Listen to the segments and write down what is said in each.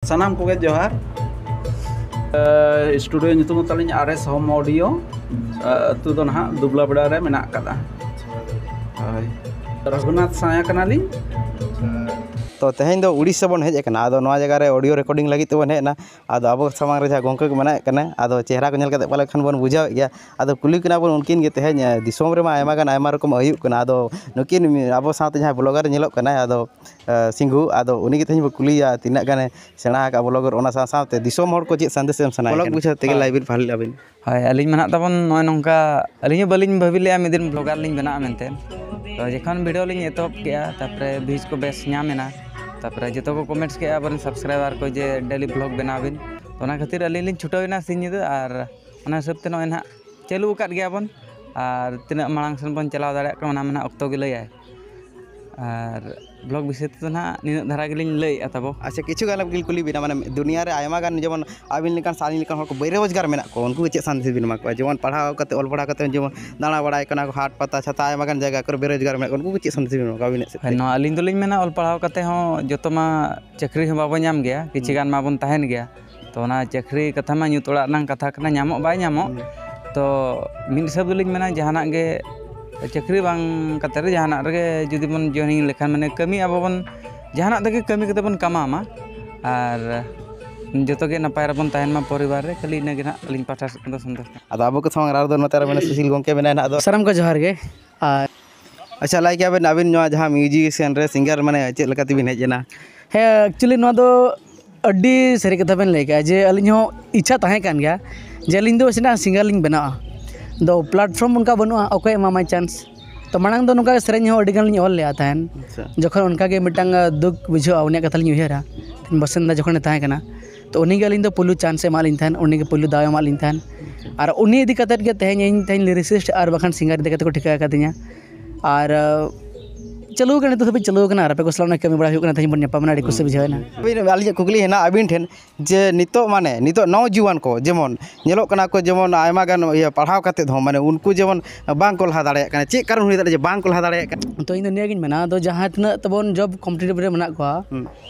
ᱥᱟᱱᱟᱢ ᱠᱚᱜᱮ ᱡᱚᱦᱟᱨ ᱥᱴᱩᱰᱤᱭᱳ ᱧᱩᱛᱩᱢ ᱛᱟᱹᱞᱤᱧ ᱟᱨ ᱮᱥ ᱦᱳᱢ ᱚᱰᱤᱭᱳ ᱟᱹᱛᱩ ᱫᱚ ᱱᱟᱦᱟᱜ ᱫᱩᱵᱽᱞᱟ ᱵᱮᱲᱟ ᱨᱮ ᱢᱮᱱᱟᱜ ᱟᱠᱟᱫᱟ ᱦᱳᱭ ᱨᱚᱜᱷᱩᱱᱟᱛᱷ ᱥᱟᱭᱟ ᱠᱟᱱᱟᱞᱤᱧ ᱛᱚ ᱛᱮᱦᱮᱧ ᱫᱚ ᱩᱲᱤᱥᱥᱟ ᱵᱚᱱ ᱦᱮᱡ ᱟᱠᱟᱱᱟ ᱟᱫᱚ ᱱᱚᱣᱟ ᱡᱟᱭᱜᱟ ᱨᱮ ᱚᱰᱤᱭᱳ ᱨᱮᱠᱚᱨᱰᱤᱝ ᱞᱟᱹᱜᱤᱫ ᱛᱮᱵᱚᱱ ᱦᱮᱡ ᱮᱱᱟ ᱟᱫᱚ ᱟᱵᱚ ᱥᱟᱢᱟᱝ ᱨᱮ ᱡᱟᱦᱟᱸ ᱜᱚᱢᱠᱮ ᱠᱚ ᱢᱮᱱᱟᱜ ᱠᱟᱱᱟ ᱟᱫᱚ ᱪᱮᱦᱨᱟ ᱠᱚ ᱧᱮᱞ ᱠᱟᱛᱮ ᱯᱟᱞᱮ ᱠᱷᱟᱱ ᱵᱚᱱ ᱵᱩᱡᱷᱟᱹᱣᱮᱫ ᱜᱮᱭᱟ ᱟᱫᱚ ᱠᱩᱞᱤ ᱠᱤᱱᱟ ᱵᱚᱱ ᱩᱱᱠᱤᱱ ᱜᱮ ᱛᱮᱦᱮᱧ ᱫᱤᱥᱚᱢ ᱨᱮᱢᱟ ᱟᱭᱢᱟ ᱜᱟᱱ ᱟᱭᱢᱟ ᱨᱚᱠᱚᱢ ᱦᱩᱭᱩᱜ ᱠᱟᱱᱟ ᱟᱫᱚ ᱱᱩᱠᱤᱱ ᱟᱵᱚ ᱥᱟᱶᱛᱮ ᱡᱟᱦᱟᱸᱭ ᱵᱞᱚᱜᱟᱨᱮ ᱧᱮᱞᱚᱜ ᱠᱟᱱᱟᱭ ᱟᱫᱚ ᱥᱤᱝᱜᱩ ᱟᱫᱚ ᱩᱱᱤᱜᱮ ᱛᱮᱦᱮᱧ ᱵᱚᱱ ᱠᱩᱞᱤᱭᱮᱭᱟ ᱛᱤᱱᱟᱹᱜ ᱜᱟᱱᱮ ᱥᱮᱬᱟ ᱟᱠᱟᱫᱼᱟ ᱵᱞᱚᱜᱽ ᱚᱱᱟ ᱥᱟᱶ ᱥᱟᱶᱛᱮ ᱫᱤᱥᱚᱢ ᱦᱚᱲ ᱠᱚ ᱪᱮᱫ ᱥᱟᱸᱫᱮᱥ ᱮᱢ ᱥᱟᱱᱟᱭᱮᱫ ᱠᱚᱣᱟ ᱵᱞᱚᱜᱽ ᱵᱩᱡᱷᱟᱹᱣ ᱛᱮᱜᱮ ᱞᱟᱭᱤᱵᱷ ᱵᱷᱟᱹᱞᱤ ᱞᱮᱫᱼᱟ ᱵᱤᱱ ᱦᱳᱭ ᱟᱹᱞᱤᱧ ᱢᱟ ᱦᱟᱸᱜ ᱛᱟᱵᱚᱱ ᱱᱚᱜᱼᱚᱭ ᱱᱚᱝᱠᱟ ᱟᱹᱞᱤᱧ ᱦᱚᱸ ᱵᱟᱹᱞᱤᱧ ᱵᱷᱟᱹᱵᱤ ᱞᱮᱫᱼᱟ ᱢᱤᱫ ᱫᱤᱱ ᱵᱞᱚᱜᱟᱨ ᱞᱤᱧ ᱵᱮᱱᱟᱜᱼᱟ ᱢᱮᱱᱛᱮ ᱛᱳ ᱡᱚᱠᱷᱚᱱ ᱵᱷᱤᱰᱭᱳ ᱞᱤᱧ ᱮᱛᱚᱦᱚᱵ ᱠᱮᱫᱼᱟ ᱛᱟᱨᱯᱚᱨᱮ ᱵᱷᱤᱭᱩᱡᱽ ᱠᱚ ᱵᱮᱥ ᱧᱟᱢ ᱮᱱᱟ ᱛᱟᱨᱯᱚᱨᱮ ᱡᱚᱛᱚ ᱠᱚ ᱠᱚᱢᱮᱱᱴ ᱠᱮᱫᱼᱟ ᱟᱵᱚᱨᱮᱱ ᱥᱟᱵᱥᱠᱨᱟᱭᱵᱟᱨ ᱠᱚ ᱡᱮ ᱰᱮᱞᱤ ᱵᱞᱚᱜᱽ ᱵᱮᱱᱟᱣ ᱵᱤᱱ ᱚᱱᱟ ᱠᱷᱟᱹᱛᱤᱨ ᱟᱹᱞᱤᱧ ᱞᱤᱧ ᱪᱷᱩᱴᱟᱹᱣ ᱮᱱᱟ ᱥᱤᱧ ᱧᱤᱫᱟᱹ ᱟᱨ ᱚᱱᱟ ᱦᱤᱥᱟᱹᱵᱽ ᱛᱮ ᱱᱚᱜᱼᱚᱭ ᱱᱟᱦᱟᱜ ᱪᱟᱹᱞᱩ ᱟᱠᱟᱫ ᱜᱮᱭᱟ ᱵᱚᱱ ᱟᱨ ᱛᱤᱱᱟᱹᱜ ᱢᱟᱲᱟᱝ ᱥᱮᱫ ᱵᱚᱱ ᱪᱟᱞᱟᱣ ᱫᱟᱲᱮᱭᱟᱜ ᱠᱟᱱᱟ ᱚᱱᱟ ᱢᱟ ᱱᱟᱦᱟᱜ ᱚᱠᱛᱚ ᱜᱮ ᱞᱟᱹᱭᱟᱭ ᱟᱨ ᱵᱞᱚᱜᱽ ᱵᱤᱥᱚᱭ ᱛᱮᱫᱚ ᱱᱟᱦᱟᱜ ᱱᱤᱱᱟᱹᱜ ᱫᱷᱟᱨᱟ ᱜᱮᱞᱤᱧ ᱞᱟᱹᱭᱮᱫᱼᱟ ᱛᱟᱵᱚ ᱟᱪᱪᱷᱟ ᱠᱤᱪᱷᱩ ᱜᱟᱱ ᱜᱮᱞᱤᱧ ᱠᱩᱞᱤ ᱵᱮᱱᱟ ᱢᱟᱱᱮ ᱫᱩᱱᱤᱭᱟᱹ ᱨᱮ ᱟᱭᱢᱟ ᱜᱟᱱ ᱡᱮᱢᱚᱱ ᱟᱹᱵᱤᱱ ᱞᱮᱠᱟᱱ ᱥᱮ ᱟᱹᱞᱤᱧ ᱞᱮᱠᱟᱱ ᱦᱚᱲ ᱠᱚ ᱵᱮ ᱨᱳᱡᱽᱜᱟᱨ ᱢᱮᱱᱟᱜ ᱠᱚᱣᱟ ᱩᱱᱠᱩ ᱪᱮᱫ ᱥᱟᱸᱫᱮᱥ ᱵᱮᱱ ᱮᱢᱟ ᱠᱚᱣᱟ ᱡᱮᱢᱚᱱ ᱯᱟᱲᱦᱟᱣ ᱠᱟᱛᱮᱫ ᱚᱞ ᱯᱟᱲᱦᱟᱣ ᱠᱟᱛᱮᱫ ᱡᱮᱢᱚᱱ ᱫᱟᱬᱟ ᱵᱟᱲᱟᱭ ᱠᱟᱱᱟ ᱠᱚ ᱦᱟᱴ ᱯᱟᱛᱟ ᱪᱷᱟᱛᱟ ᱟᱭᱢᱟ ᱜᱟᱱ ᱡᱟᱭᱜᱟ ᱠᱚᱨᱮᱜ ᱵᱮ ᱨᱳᱡᱽᱜᱟᱨ ᱢᱮᱱᱟᱜ ᱠᱚᱣᱟ ᱩᱱᱠᱩ ᱠᱚ ᱪᱮᱫ ᱥᱟᱸᱫᱮᱥ ᱵᱮᱱ ᱮᱢᱟ ᱠᱚᱣᱟ ᱟᱹᱵᱤᱱᱟᱜ ᱥᱮᱫ ᱛᱮ ᱱᱚᱣᱟ ᱟᱹᱞᱤᱧ ᱫᱚᱞᱤᱧ ᱢᱮᱱᱟ ᱚᱞ ᱯᱟᱲᱦᱟᱣ ᱠᱟᱛᱮᱫ ᱦᱚᱸ ᱡᱚᱛᱚ ᱢᱟ ᱪᱟᱹᱠᱨᱤ ᱦᱚᱸ ᱵᱟᱵᱚᱱ ᱧᱟᱢ ᱜᱮᱭᱟ ᱠᱤᱪᱷᱩ ᱜᱟᱱ ᱢᱟᱵᱚᱱ ᱛᱟᱦᱮᱱ ᱜᱮᱭᱟ ᱛᱚ ᱚᱱᱟ ᱪᱟᱹᱠᱨᱤ ᱠᱟᱛᱷᱟ ᱢᱟ ᱧᱩᱛ ᱚᱲᱟᱜ ᱨᱮᱱᱟᱝ ᱠᱟᱛᱷᱟ ᱠᱟᱱᱟ ᱧᱟᱢᱚᱜ ᱵᱟᱭ ᱧᱟᱢᱚᱜ ᱛᱚ ᱢᱤᱫ ᱦᱤᱥᱟᱹᱵ ᱫᱚᱞᱤᱧ ᱢᱮᱱᱟ ᱡᱟᱦᱟᱱᱟᱜ ᱜᱮ ᱪᱟᱹᱠᱨᱤ ᱵᱟᱝ ᱠᱟᱛᱮ ᱨᱮᱦᱚᱸ ᱡᱟᱦᱟᱱᱟᱜ ᱨᱮᱜᱮ ᱡᱩᱫᱤ ᱵᱚᱱ ᱡᱚᱭᱮᱱᱤᱝ ᱞᱮᱠᱷᱟᱱ ᱢᱟᱱᱮ ᱠᱟᱹᱢᱤ ᱟᱵᱚ ᱵᱚᱱ ᱡᱟᱦᱟᱱᱟᱜ ᱛᱮᱜᱮ ᱠᱟᱹᱢᱤ ᱠᱟᱛᱮ ᱵᱚᱱ ᱠᱟᱢᱟᱣᱢᱟ ᱟᱨ ᱡᱚᱛᱚ ᱜᱮ ᱱᱟᱯᱟᱭ ᱨᱮᱵᱚᱱ ᱛᱟᱦᱮᱱ ᱢᱟ ᱯᱚᱨᱤᱵᱟᱨ ᱨᱮ ᱠᱷᱟᱹᱞᱤ ᱤᱱᱟᱹᱜᱮ ᱦᱟᱸᱜ ᱟᱹᱞᱤᱧ ᱯᱟᱦᱴᱟ ᱥᱮᱫ ᱠᱷᱚᱱ ᱫᱚ ᱥᱚᱱᱛᱳᱥ ᱟᱫᱚ ᱟᱵᱚ ᱠᱚ ᱥᱟᱢᱟᱝ ᱨᱮ ᱟᱨ ᱢᱤᱫᱴᱮᱱ ᱥᱩᱥᱤᱞ ᱜᱚᱢᱠᱮ ᱢᱮᱱᱟᱭᱟ ᱦᱟᱸᱜ ᱟᱫᱚ ᱥᱟᱱᱟᱢ ᱠᱚ ᱡᱚᱦᱟᱨ ᱜᱮ ᱟᱨ ᱟᱪᱪᱷᱟ ᱞᱟᱹᱭ ᱠᱮᱭᱟ ᱵᱮᱱ ᱟᱹᱵᱤᱱ ᱱᱚᱣᱟ ᱡᱟᱦᱟᱸ ᱢᱤᱭᱩᱡᱤᱥᱤᱭᱟᱱ ᱨᱮ ᱥᱤᱝᱜᱟᱨ ᱢᱟᱱᱮ ᱪᱮᱫ ᱞᱮᱠᱟ ᱛᱮᱵᱤᱱ ᱦᱮᱡ ᱮᱱᱟ ᱦᱮᱸ ᱮᱠᱪᱩᱞᱞᱤ ᱱᱚᱣᱟ ᱫᱚ ᱟᱹᱰᱤ ᱥᱟᱹᱨᱤ ᱠᱟᱛᱷᱟ ᱵᱮᱱ ᱞᱟᱹᱭ ᱠᱮᱫᱟ ᱡᱮ ᱟᱹᱞᱤᱧ ᱦᱚᱸ ᱤᱪᱪᱷᱟ ᱛᱟᱦᱮᱸ ᱠᱟᱱ ᱜᱮᱭᱟ ᱡᱮ ᱟᱹᱞᱤᱧ ᱫᱚ ᱱᱟᱥᱮᱱᱟᱜ ᱥᱤᱝᱜᱟᱨ ᱞᱤᱧ ᱵᱮᱱᱟᱜᱼᱟ ᱟᱫᱚ ᱯᱞᱟᱴᱯᱷᱨᱚᱢ ᱚᱱᱠᱟ ᱵᱟᱹᱱᱩᱜᱼᱟ ᱚᱠᱚᱭ ᱮᱢᱟᱢᱟ ᱪᱟᱱᱥ ᱛᱳ ᱢᱟᱲᱟᱝ ᱫᱚ ᱱᱚᱝᱠᱟ ᱥᱮᱨᱮᱧ ᱦᱚᱸ ᱟᱹᱰᱤᱜᱟᱱ ᱞᱤᱧ ᱚᱞ ᱞᱮᱫᱼᱟ ᱛᱟᱦᱮᱱ ᱡᱚᱠᱷᱚᱱ ᱚᱱᱠᱟᱜᱮ ᱢᱤᱫᱴᱟᱱ ᱫᱩᱠ ᱵᱩᱡᱷᱟᱹᱜᱼᱟ ᱩᱱᱤᱭᱟᱜ ᱠᱟᱛᱷᱟ ᱞᱤᱧ ᱩᱭᱦᱟᱹᱨᱟ ᱵᱟᱥᱤᱱᱫᱟ ᱡᱚᱠᱷᱚᱱᱮ ᱛᱟᱦᱮᱸ ᱠᱟᱱᱟ ᱛᱚ ᱩᱱᱤ ᱜᱮ ᱟᱹᱞᱤᱧ ᱫᱚ ᱯᱳᱭᱞᱳ ᱪᱟᱱᱥᱮ ᱮᱢᱟᱜ ᱞᱤᱧ ᱛᱟᱦᱮᱱ ᱩᱱᱤᱜᱮ ᱯᱳᱭᱞᱳ ᱫᱟᱣᱮ ᱮᱢᱟᱜ ᱞᱤᱧ ᱛᱟᱦᱮᱱ ᱟᱨ ᱩᱱᱤ ᱤᱫᱤ ᱠᱟᱛᱮᱫ ᱜᱮ ᱛᱮᱦᱮᱧ ᱤᱧ ᱛᱮᱦᱮᱧ ᱞᱤᱨᱤᱥᱤᱥᱴ ᱟᱨ ᱵᱟᱝᱠᱷᱟᱱ ᱥᱤᱝᱜᱟᱨ ᱤᱫᱤ ᱠᱟᱛᱮᱫ ᱠᱚ ᱴᱷᱤᱠᱟᱹ ᱠᱟᱫᱤᱧᱟ ᱟᱨ ᱪᱟᱹᱞᱩ ᱠᱟᱱᱟ ᱱᱤᱛᱚᱜ ᱫᱷᱟᱹᱵᱤᱡ ᱪᱟᱹᱞᱩ ᱠᱟᱱᱟ ᱟᱨ ᱟᱯᱮ ᱠᱚ ᱥᱟᱞᱟᱜ ᱠᱟᱹᱢᱤ ᱵᱟᱲᱟ ᱦᱩᱭᱩᱜ ᱠᱟᱱᱟ ᱛᱮᱦᱮᱧ ᱵᱚᱱ ᱧᱟᱯᱟᱢ ᱮᱱᱟ ᱟᱹᱰᱤ ᱠᱩᱥᱤ ᱵᱩᱡᱷᱟᱹᱣ ᱮᱱᱟ ᱟᱹᱞᱤᱧᱟᱜ ᱠᱩᱠᱞᱤ ᱦᱮᱱᱟᱜᱼᱟ ᱟᱹᱵᱤᱱ ᱴᱷᱮᱱ ᱡᱮ ᱱᱤᱛᱚᱜ ᱢᱟᱱᱮ ᱱᱤᱛᱚᱜ ᱱᱚᱣᱟ ᱡᱩᱣᱟᱹᱱ ᱠᱚ ᱡᱮᱢᱚᱱ ᱧᱮᱞᱚᱜ ᱠᱟᱱᱟ ᱠᱚ ᱡᱮᱢᱚᱱ ᱟᱭᱢᱟ ᱜᱟᱱ ᱤᱭᱟᱹ ᱯᱟᱲᱦᱟᱣ ᱠᱟᱛᱮᱫ ᱦᱚᱸ ᱢᱟᱱᱮ ᱩᱱᱠᱩ ᱡᱮᱢᱚᱱ ᱵᱟᱝ ᱠᱚ ᱞᱟᱦᱟ ᱫᱟᱲᱮᱭᱟᱜ ᱠᱟᱱᱟ ᱪᱮᱫ ᱠᱟᱨᱚᱱ ᱦᱩᱭ ᱫᱟᱲᱮᱭᱟᱜᱼᱟ ᱡᱮ ᱵᱟᱝ ᱠᱚ ᱞᱟᱦᱟ ᱫᱟᱲᱮᱭᱟᱜ ᱠᱟᱱᱟ ᱛᱚ ᱤᱧᱫᱚ ᱱᱤᱭᱟᱹᱜᱤᱧ ᱢᱮᱱᱟ ᱟᱫᱚ ᱡᱟᱦᱟᱸ ᱛᱤᱱᱟᱹᱜ ᱛᱟᱵᱚᱱ ᱡᱚᱵᱽ ᱠᱚᱢᱯᱤᱴᱤᱴᱤᱵᱷ ᱨᱮ ᱢᱮᱱᱟᱜ ᱠᱚᱣᱟ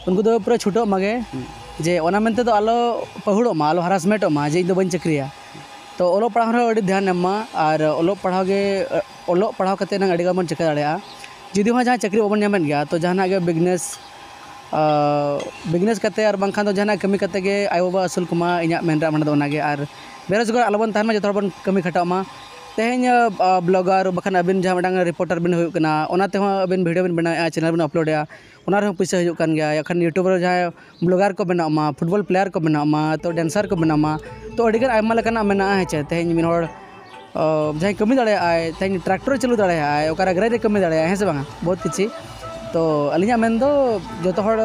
ᱩᱱᱠᱩ ᱫᱚ ᱯᱩᱨᱟᱹ ᱪᱷᱩᱴᱟᱹᱜ ᱢᱟᱜᱮ ᱡᱮ ᱚᱱᱟ ᱢᱮᱱᱛᱮ ᱫᱚ ᱟᱞᱚ ᱯᱟᱹᱦᱩᱲᱚᱜ ᱢᱟ ᱟᱞᱚ ᱦᱟᱨᱟᱥᱢᱮᱱᱴᱚᱜ ᱢᱟ ᱡᱮ ᱤᱧ ᱫᱚ ᱵᱟᱹᱧ ᱪᱟᱹᱠᱨᱤᱭᱟ ᱛᱚ ᱚᱞᱚᱜ ᱯᱟᱲᱦᱟᱣ ᱨᱮᱦᱚᱸ ᱟᱹᱰᱤ ᱫᱷᱮᱭᱟᱱ ᱮᱢ ᱢᱟ ᱟᱨ ᱚᱞᱚᱜ ᱯᱟᱲᱦᱟᱣ ᱜᱮ ᱚᱞᱚᱜ ᱯᱟᱲᱦᱟᱣ ᱠᱟᱛᱮ ᱱᱟᱝ ᱟᱹᱰᱤ ᱜᱟᱱ ᱵᱚᱱ ᱪᱤᱠᱟᱹ ᱫᱟᱲᱮᱭᱟᱜᱼᱟ ᱡᱩᱫᱤ ᱦᱚᱸ ᱡᱟᱦᱟᱸ ᱪᱟᱹᱠᱨᱤ ᱵᱟᱵᱚᱱ ᱧᱟᱢᱮᱫ ᱜᱮᱭᱟ ᱛᱚ ᱡᱟᱦᱟᱱᱟᱜ ᱜᱮ ᱵᱤᱡᱽᱱᱮᱥ ᱵᱤᱡᱽᱱᱮᱥ ᱠᱟᱛᱮ ᱟᱨ ᱵᱟᱝᱠᱷᱟᱱ ᱫᱚ ᱡᱟᱦᱟᱱᱟᱜ ᱠᱟᱹᱢᱤ ᱠᱟᱛᱮ ᱜᱮ ᱟᱭᱳ ᱵᱟᱵᱟ ᱟᱹᱥᱩᱞ ᱠᱚᱢᱟ ᱤᱧᱟᱹᱜ ᱢᱮᱱ ᱨᱮᱭᱟᱜ ᱢᱚᱱᱮ ᱫᱚ ᱚᱱᱟᱜᱮ ᱟᱨ ᱵᱮᱨᱳᱡᱽᱜᱟᱨ ᱟᱞᱚ ᱵᱚᱱ ᱛᱟᱦᱮᱱ ᱢᱟ ᱡᱚᱛᱚ ᱦᱚᱲ ᱵᱚᱱ ᱠᱟᱹᱢᱤ ᱠᱷᱟᱴᱟᱜ ᱢᱟ ᱛᱮᱦᱮᱧ ᱵᱞᱚᱜᱟᱨ ᱵᱟᱠᱷᱟᱱ ᱟᱹᱵᱤᱱ ᱡᱟᱦᱟᱸ ᱢᱤᱫᱴᱟᱝ ᱨᱤᱯᱳᱴᱟᱨ ᱵᱮᱱ ᱦᱩᱭᱩᱜ ᱠᱟᱱᱟ ᱚᱱᱟ ᱛᱮᱦᱚᱸ ᱟᱹᱵᱤᱱ ᱵᱷᱤᱰᱭᱳ ᱵᱮᱱ ᱵᱮᱱᱟᱣᱮᱜᱼᱟ ᱪᱮᱱᱮᱞ ᱵᱮᱱ ᱟᱯᱞᱳᱰᱮᱜᱼᱟ ᱚᱱᱟ ᱨᱮᱦᱚᱸ ᱯᱚᱭᱥᱟ ᱦᱩᱭᱩᱜ ᱠᱟᱱ ᱜᱮᱭᱟ ᱮᱠᱷᱟᱱ ᱤᱭᱩᱴᱩᱵᱽ ᱨᱮ ᱡᱟᱦᱟᱸᱭ ᱵᱞᱚᱜᱟᱨ ᱠᱚ ᱵᱮᱱᱟᱜ ᱢᱟ ᱯᱷᱩᱴᱵᱚᱞ ᱯᱞᱮᱭᱟᱨ ᱠᱚ ᱵᱮᱱᱟᱜ ᱢᱟ ᱛᱚ ᱰᱮᱱᱥᱟᱨ ᱠᱚ ᱵᱮᱱᱟᱜ ᱢᱟ ᱛᱚ ᱟᱹᱰᱤᱜᱟᱱ ᱟᱭᱢᱟ ᱞᱮᱠᱟᱱᱟᱜ ᱢᱮᱱᱟᱜᱼᱟ ᱦᱮᱸ ᱪᱮ ᱛᱮᱦᱮᱧ ᱢᱤᱫ ᱦᱚᱲ ᱡᱟᱦᱟᱸᱭ ᱠᱟᱹᱢᱤ ᱫᱟᱲᱮᱭᱟᱜ ᱟᱭ ᱛᱮᱦᱮᱧ ᱴᱨᱟᱠᱴᱚᱨ ᱪᱟᱹᱞᱩ ᱫᱟᱲᱮᱭᱟᱜ ᱟᱭ ᱚᱠᱟᱨᱮ ᱜᱟᱹᱲᱤ ᱨᱮ ᱠᱟᱹᱢᱤ ᱫᱟᱲᱮᱭᱟᱜ ᱟᱭ ᱦᱮᱸ ᱥᱮ ᱵᱟᱝᱟ ᱵᱚᱦᱩᱛ ᱠᱤᱪᱷᱩ ᱛᱚ ᱟᱹᱞᱤᱧᱟᱜ ᱢᱮᱱ ᱫᱚ ᱡᱚᱛᱚ ᱦᱚᱲ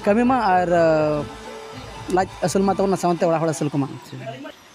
ᱠᱟᱹᱢᱤ ᱢᱟ ᱟᱨ ᱞᱟᱡ ᱟᱹᱥᱩᱞ ᱢᱟ ᱛᱟᱵᱚᱱ ᱥᱟᱶᱛᱮ ᱚᱲᱟᱜ ᱦᱚᱲ ᱟᱹᱥᱩᱞ ᱠᱚᱢᱟ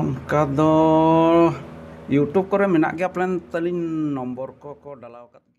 ᱚᱱᱠᱟ ᱫᱚ ᱤᱭᱩᱴᱩᱵᱽ ᱠᱚᱨᱮ ᱢᱮᱱᱟᱜ ᱜᱮᱭᱟ ᱯᱟᱞᱮᱱ ᱛᱟᱹᱞᱤᱧ ᱱᱚᱢᱵᱚᱨ ᱠᱚᱠᱚ ᱰᱟᱞᱟᱣ ᱠᱟᱜ ᱜᱮᱭᱟ